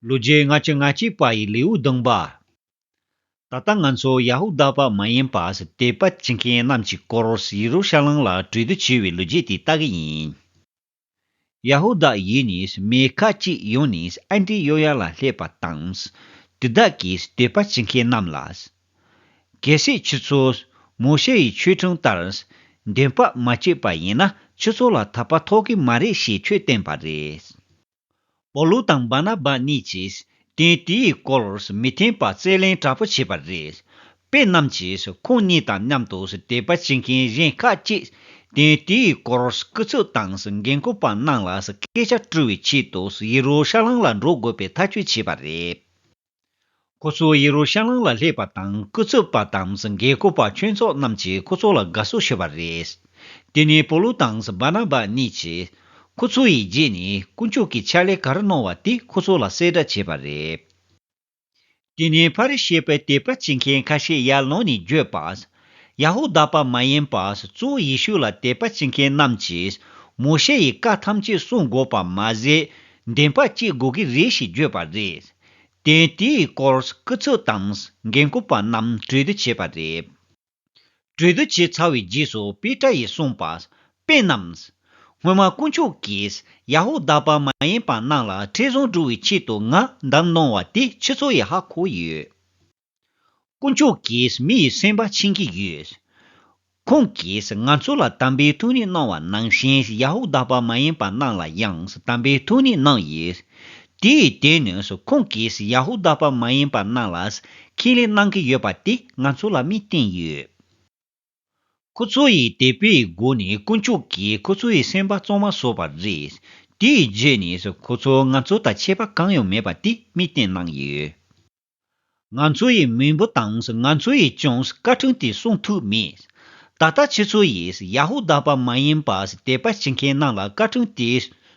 ལོ་རྒྱུས་སྔ་ཕྱི་སྔ་ཕྱིའི་བ་ཡི་ལེའུ་བདུན་པ། ད་ལྟ་ང་ཚོ་ཡ་ཧུ་དཱ་བ་མ་ཡིན་པར་དད་པ་བྱེད་མཁན་རྣམས་ཀྱི་སྐོར་ཡེ་རུ་ཤ་ལམ་ལ་གྲོས་བསྡུར་བྱས་བའི་ལོ་རྒྱུས་དེ་ལྟ་གི་ཡིན། ཡ་ཧུ་དཱ་ཡུལ་ནས་མི་ཁ་ཅིག་ཡོང་ནས་ཨན་ཏི་ཡོ་ཡཱ་ལ་སླེབས་པ་དང། དེ་དག་གིས་དད་པ་བྱེད་མཁན་རྣམས་ལ། གལ་སྲིད་ཁྱོད་ཚོ་མོ་ཤེ་ཡི་ཆོས་ཁྲིམས་ལྟར་འདོན་སྤྲོད་མ་བྱས་པ་ཡིན་ན་ཁྱོད་ཚོ་ལ་ཐར་པ་ཐོབ་གི་མ་རེད་ཞེས་ཆོས་བསྟན་པ་རེད། པོ་ལུ་དང་སྦ་ན་པ་གཉིས་ཀྱིས་དེ་དེའི་སྐོར་མི་མཐུན་པ་རྩད་ལེན་དྲག་པོ་བྱས་པ་རེད། དཔེ་རྣམས་ཀྱིས་ཁོང་གཉིས་དང་མཉམ་དུ་དད་པ་བྱེད་མཁན་གཞན་ཁག་ཅིག་དེ་དེའི་སྐོར་སྐུ་ཚབ་དང་འགན་འཁུར་པ་རྣམས་ལ་སྐད་ཆ་དཀྲི་བའི་ཆེད་དུ་ཡེ་རུ་ཤ་ལམ་ལ་འགྲོ་དགོས་པའི་ཐག་གཅོད་བྱས་པ་རེད། ཁོ་ཚོས་ཡེ་རུ་ཤ་ལམ་ལ་སླེབས་པ་དང་སྐུ་ཚབ་པ་དང་འགན་བསྐོར་བ་ཆོས་ཚོགས་རྣམས་ཀྱིས་ཁོ་ཚོ་ལ་དགའ་བསུ་བྱས་པ་རེད། དེ་ནས་པོ་ལུ་དང་བཱ་ན་བཱ་གཉིས་ཀྱིས་ཁོ་ཚོ་ཡི་རྗེས་ནས་དཀོན་མཆོག་གི་ཕྱག་ལས་ག་རེ་གནང་བ་དེ་ཁོ་ཚོ་ལ་གསལ་བསྒྲགས་བྱས་པ་རེད། དེ་ནས་ཕ་རི་ཤའི་པའི་དད་པ་བྱེད་མཁན་ཁ་ཤས་ཡར་ལངས་ནས་བརྗོད་པ། ཡ་ཧུ་དཱ་པ་མ་ཡིན་པར་གཙོ་བོ་ཡེ་ཤུ་ལ་དད་པ་བྱེད་མཁན་རྣམས་ཀྱིས་མོ་ཤེ་ཡི་བཀའ་ཐམས་ཅད་སྲུང་དགོས་པ་མ་ཟད་བདེན་པ་སྐྱེ་དགོས་ཀྱི་རེད་ཞེས་བརྗོད་པ་རེད། དེས་དེའི་སྐོར་སྐུ་ཚབ་དང་འགན་ཁུར་པ་རྣམས་གྲོས་བསྡུར་བྱས་པ་རེད། གྲོས་བསྡུར་བྱས་ཚར་བའི་རྗེས་སུ་པེ་ཏྲ་ཡིས་གསུངས་པ། དཔེ་རྣམས། སྔོན་མ་དཀོན་མཆོག་གིས་ཡ་ཧུ་དཱ་པ་མ་ཡིན་པ་རྣམས་ལ་ཁྲེལ་བཟང་བསྒྲུབ་བའི་ཆེད་དུ་ང་འདམ་གནང་བ་དེ་ཁྱེད་ཚོ་ཡི་ཧ་གོ་ཡོད། དཀོན་མཆོག་གིས་མི་ཡི་སེམས་པ་ཕྱིན་གྱི་ཡོད། ཁོང་གིས་ང་ཚོ་ལ་དམ་པའི་ཐུགས་ནས་གནང་བ་ནང་བཞིན་ཡ་ཧུ་དཱ་པ་མ་ཡིན་པ་རྣམས་ལ་ཡང་དམ་པའི་ཐུགས་ནས་གནང་ཡོད། དེའི་སྟེང་ནས་ཁོང་གིས་ཡ་ཧུ་དཱ་པ་མ་ཡིན་པ་རྣམས་ལ་ཁས་ལེན་གནང་གི་ཡོད་པ་དེ་ང་ཚོ་ལ་མིས་བསྟན་ཡོད། ཁོ་ཚོ་ཡི་དད་པའི་སྒོ་ནས་དཀོན་མཆོག་གིས་ཁོ་ཚོ་ཡི་སེམས་པ་གཙང་མ་བཟོ་བ་རེད། དེའི་རྗེས་ནས་ཁོ་ཚོ་ང་ཚོ་དང་ཆད་པ་གང་ཡང་མེད་པ་དེ་མིས་བསྟན་གནང་ཡོད། ང་ཚོ་ཡི་མི་འབོ་དངས་ང་ཚོ་ཡི་ཅོངས་བཀའ་དྲིན་དེ་སྲུང་ཐུབ་མེད། ད་ལྟ་ཁྱེད་ཚོ་ཡིས་ཡ་ཧུ་དཱ་པ་མ་ཡིན་པ་དད་པ་བྱེད་མཁན་རྣམས་ལ་བཀའ་དྲིན་དེ་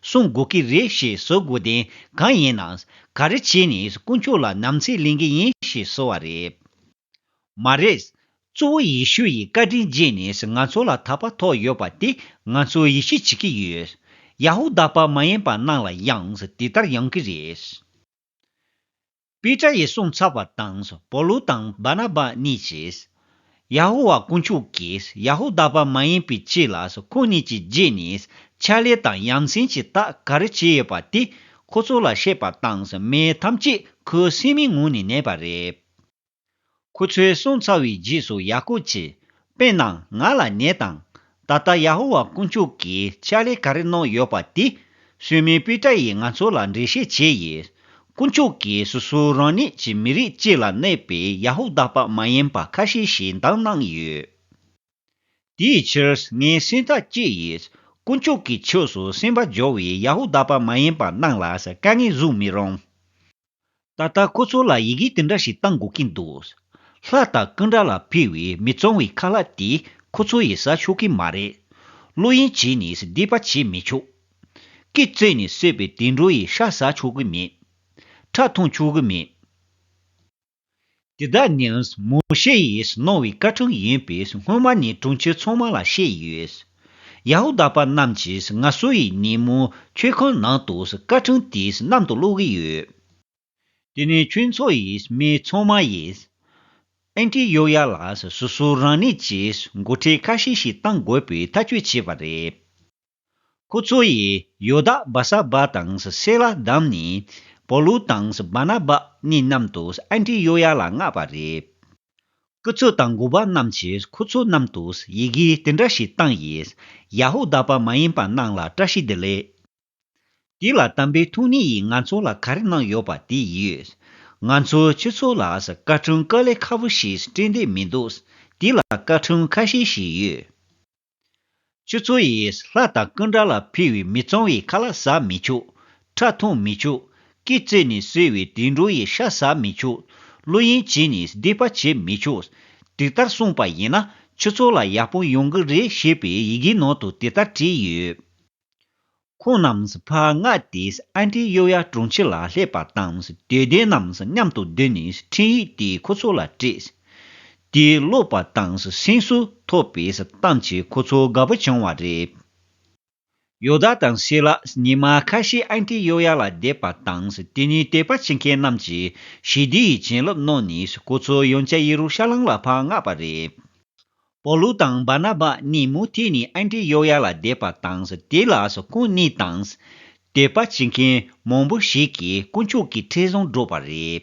སྲུང་དགོས་ཀྱི་རེད་ཞེས་གསོལ་དགོས་དོན་གང་ཡིན་ན་ག་རེ་བྱས་ནས་དཀོན་མཆོག་ལ་ནམ་ཚེ་ལེན་གྱི་ཡིན་ཞེས་གསོལ་བ་རེད་མ་རེད། གཙོ་བོ་ཡེ་ཤུ་ཡི་བཀའ་དྲིན་རྗེས་ནས་ང་ཚོ་ལ་ད་པ་ཐོག་ཡོད་པ་དེ་ང་ཚོ་ཡིད་ཆེས་བྱེད་ཀྱི་ཡོད། ཡ་ཧུ་དཱ་པ་མ་ཡིན་པ་རྣམས་ལ་ཡང་དེ་ལྟར་ཡོང་གི་རེད། པེ་ཏྲ་ཡིས་གསུངས་ཚར་བ་དང་པོ་ལུ་དང་བར་ན་བ་གཉིས་ཀྱིས། ཡ་ཧོ་ཝཱ་དཀོན་མཆོག་གིས་ཡ་ཧོ་དཱ་བ་མ་ཡིན་པའི་ཕྱིར་ལ་ཁོ་གཉིས་ཀྱི་རྗེས་ནས་ཕྱག་ལས་དང་ཡ་མཚན་གྱི་རྟགས་ག་རེ་བྱས་ཡོད་པ་དེ་ཁོ་ཚོ་ལ་བཤད་པ་དང་མི་ཐམས་ཅད་ཁོའི་སེམས་མའི་ངོས་ནས་ནད་པ་རེད། ཁོ་ཚོའི་གསུང་ཚར་བའི་རྗེས་སུ་ཡ་ཀུབ་ཀྱིས། དཔེར་ན་ང་ལ་ནད་དང། ད་ལྟ་ཡ་ཧོ་ཝཱ་དཀོན་མཆོག་གིས་ཕྱག་ལས་ག་རེ་གནང་ཡོད་པ་དེ། གསོད་མའི་དཔེ་གྲ་ཡིས་ང་ཚོ་ལ་འགྲེལ་བཤད་བྱས་ཡོད། དཀོན་མཆོག་གིས་སོ་སོའི་རང་ཉིད་ཀྱི་མི་རིགས་གཅིག་ལ་གནས་པའི་ཡ་ཧོ་བདག་པ་མ་ཡིན་པ་ཁ་ཤས་ཤིག་འདང་གནང་ཡོད། དེའི་ཕྱིར་ངའི་སེམས་ཐག་བཅད་ཡོད། དཀོན་མཆོག་གི་ཕྱོགས་སུ་སེམས་པ་སྦྱོར་བའི་ཡ་ཧོ་བདག་པ་མ་ཡིན་པ་རྣམས་ལ་དཀའ་ངལ་བཟོ་མི་རུང། ད་ལྟ་ཁོ་ཚོ་ལ་ཡི་གེ་དེ་འདྲ་ཞིག་བཏང་དགོས་ཀྱིན་འདུག། ལྷ་དང་ཀུན་དགའ་ལ་ཕུལ་བའི་མི་གཙང་བའི་ཁ་ལག་དེ་ཁོ་ཚོ་ཡིས་ཟ་ཆོག་གི་མ་རེད། བློ་གཡེང་བྱས་ནས་བསྡད་པ་བྱེད་མི་ཆོག། སྐེ་བཙིར་ནས་བསད་པའི་དུད་འགྲོ་ཡི་ཤ་ཟ་ཆོག་གི་མེད། ཁྲག་འཐུང་ཆོག་གི་མེད། འདི་དག་ནི་མོ་ཤེ་ཡིས་གནང་བའི་བཀའ་དྲིན་ཡིན་པས་སྔོན་མ་ནས་དྲུང་ཆེ་ཚང་མ་ལ་བཤད་ཡོད། ཡ་ཧུ་དཱ་པ་རྣམས་ཀྱིས་ང་སུ་ཡི་ཉིན་མོ་མཆོད་ཁང་ནང་དུ་བཀའ་དྲིན་དེ་གནམ་དུ་བླུགས་ཀྱི་ཡོད། དེ་ནས་ཁྱོད་ཚོ་ཡི་མི་ཚང་མ་ཡིས་ཨན་ཏི་ཡོག་ཡ་ལ་སོ་སོ་རང་ནས་ཀྱིས་འགོ་ཁྲིད་ཁ་ཤས་ཤིག་གཏང་དགོས་པའི་ཐག་གཅོད་བྱས་པ་རེད། ཁོ་ཚོ་ཡིས་ཡོ་དཱ་བཱ་ས་བཱ་དང་སེ་ལ་བདམས་ནས་པོ་ལུ་དང་བཱ་ན་བཱ་གཉིས་རྣམ་དུ་ཨན་ཏི་ཡོ་ཡཱ་ལ་མངགས་པ་རེད། སྐུ་ཚོགས་དང་འགོ་པ་རྣམས་ཀྱིས་ཁོ་ཚོ་རྣམས་དུ་ཡི་གེ་དེ་འདྲ་ཞིག་བཏང་ཡིས་ཡ་ཧུ་དཱ་པ་མ་ཡིན་པ་རྣམས་ལ་བཀྲ་ཤིས་བདེ་ལེགས། འདི་ལ་དམ་པའི་ཐུགས་ནི་ཡིས་ང་ཚོ་ལ་ག་རེ་གནང་ཡོད་པ་དེ་ཡིས། ང་ཚོའི་ཁྱོད་ཚོ་ལ་བཀའ་དྲུང་དཀའ་ལས་ཁ་བོ་ཞིག་སྤྲད་འདོད་མི་འདུག་འདི་ལ་བཀའ་དྲུང་ཁ་ཤས་ཤིག་ཡོད། ཆུ་ཚོད་ཡིས་ལྷ་དང་ཀུན་དགའ་ལ་ཕུལ་བའི་མི་གཙང་བའི་ཁ་ལ་ཟ་མི་ཆོག། ཁྲག་འཐུང་མི་ཆོག། སྐེ་བཙིར་ནས་གསོས་བའི་དུད་འགྲོ་ཡི་ཤ་ཟ་མི་ཆོག། གླུ་ཡན་བྱིན་ནས་སྡིག་པ་བྱེད་མི་ཆོག། དེ་ལྟར་གསུངས་པ་ཡིན་ན་ཆུ་ཚོད་ལ་ཡག་པོ་ཡོང་གི་རེད་ཞེས་པའི་ཡི་གེའི་ནང་དུ་དེ་ལྟར་བྲིས་ཡོད། ཁོང་རྣམས་ཕ་མངའ་སྟེ་ཨ་མྲའི་གཡོ་ཡ་དྲུང་ཆེ་ལ་སླེབས་པ་དང་དད་ལྡན་རྣམས་མཉམ་དུ་བསྡུས་ནས་འཕྲིན་ཡིག་དེ་ཁོ་ཚོ་ལ་སྤྲད། དེ་ཀློག་པ་དང་སེམས་སུ་ཐོབ་པས་གཏམ་གྱིས་ཁོ་ཚོ་དགའ་པོ་བྱུང་བ་རེད། ཡོ་དཱ་དང་ཤེ་ལ་ཉི་མ་ཁ་ཤས་ཨ་མྲའི་གཡོ་ཡ་ལ་བསྡད་པ་དང་དེ་ནས་དད་པ་བྱེད་མཁན་རྣམས་ཀྱིས་ཞི་བདེ་ཡི་བྱིན་རླབས་གནང་ནས་ཁོ་ཚོ་ཡོན་ཅཱ་ཡེ་རུ་ཤ་ལམ་ལ་ཕ་མངགས་པ་རེད། པོ་ལུ་དང་བར་ན་བ་གཉིས་མུ་ཏིག་ནི་ཨན་ཏི་ཡོག་ཡ་ལ་བསྡད་པ་དང་དེ་ལ་སོ་སྐུ་གཉིས་དང། དད་པ་བྱེད་མཁན་མང་པོ་ཞིག་གིས་དཀོན་མཆོག་གི་ཁྲི་བཟང་བསྒྲུབས་པ་རེད།